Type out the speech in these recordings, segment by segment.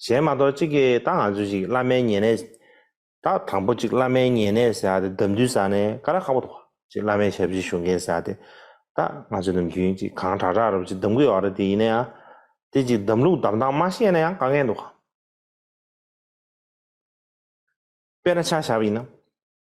གཞན་མ་གཏོགས་གཅིག་གིས་ད་ང་ཚོས་ཅིག་བླ་མའི་ཉེ་གནས། ད་དང་པོ་ཅིག་བླ་མའི་ཉེ་གནས་ཟེར་ཏེ་འདམ་རྡུལ་ཟ་ནས་ཀ་ར་ཁ་བོ་ཐོག་ཅིག་བླ་མའི་ཞབས་ཕྱི་ཞུ་མཁན་ཟེར་ཏེ། ད་ང་ཚོས་ནམ་རྒྱུན་ཅིག་གང་དྲག་དྲག་རུ་ཅིག་འདམ་གུ་ཡོག་རེད་དེ་ཡིན་ནའང། དེ་ཅིག་འདམ་ལུག་འདམ་སྟངས་མ་ཤེས་ན་ཡང་དཀའ་ངལ་འདུག་གམ། དཔེར་ན་ཆ་ཞབས་ཡིན་ན།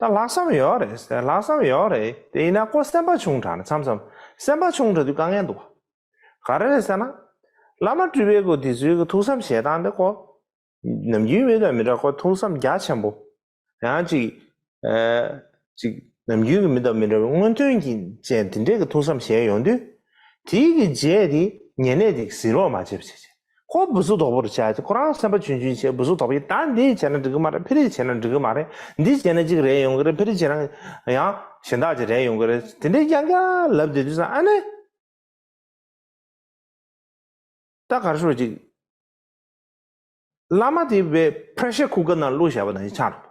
ད་ལྷག་བསམ་ཡོད་རེད་ཟེར་ལྷག་བསམ་ཡོད་རེད་དེ་ཡིན་ན་ཀོ་སེམས་པ་ཆུང་དྲགས་ནས་མཚམས་མཚམས་སེམས་པ་ཆུང་དྲགས་དུས་དཀའ་ངལ་འདུག་ག་རེ་རེད་ཟེར་ན། བླ་མ་སྤྲུལ་པའི་སྐུ་དེ་ཚོའི་གི་ཐུགས་བསམ་བཞེས་སྟངས་དེ་ཀོ། ནམ་རྒྱུན་མི་དང་མི་འདྲ་ཁོ་ཐུགས་བསམ་རྒྱ་ཆེན་པོ། ཡང་ཅིག། ཅིག་ནམ་རྒྱུན་གི་མི་དང་མི་འདྲ་བའི་སྔོན་ཐོན་གྱི་ཅན་དེ་འདྲས་གི་ཐུགས་བསམ་བཞེས་ཡོང་དུས། དེའི་གི་རྗེས་དེ་ཉེ་གནས་དེ་གཟིགས་རོགས་མ་བྱས་བྱས་བྱས། ཁོ་བུ་གཟུགས་དོག་པོར་བྱས་ཏེ་ཁོ་རང་སེམས་པ་ཆུན་ཆུན་བྱས་བུ་གཟུགས་དོག་པོ་ཡིན་ད་འདི་བྱས་ན་འགྲིག་གི་མ་རེད་ཕི་རིག་བྱས་ན་འགྲིག་གི་མ་རེད་འདི་བྱས་ན་གཅིག་རེད་ཡོང་གི་རེད་ཕི་རིག་བྱས་ན་ཡང་གཞན་དག་ཅིག་རེད་ཡོང་གི་རེད་དེ་འདྲའི་རྐྱང་རྐྱང་ལབ་བསྡད་དུས་སང་ཨ་ནེ། ད་གར་ཤོག་ཅིག། བླ་མ་དེ་བས Pressure Cooker ནང་བླུགས་བཞག་པ་དང་ཆ་འགྲོ།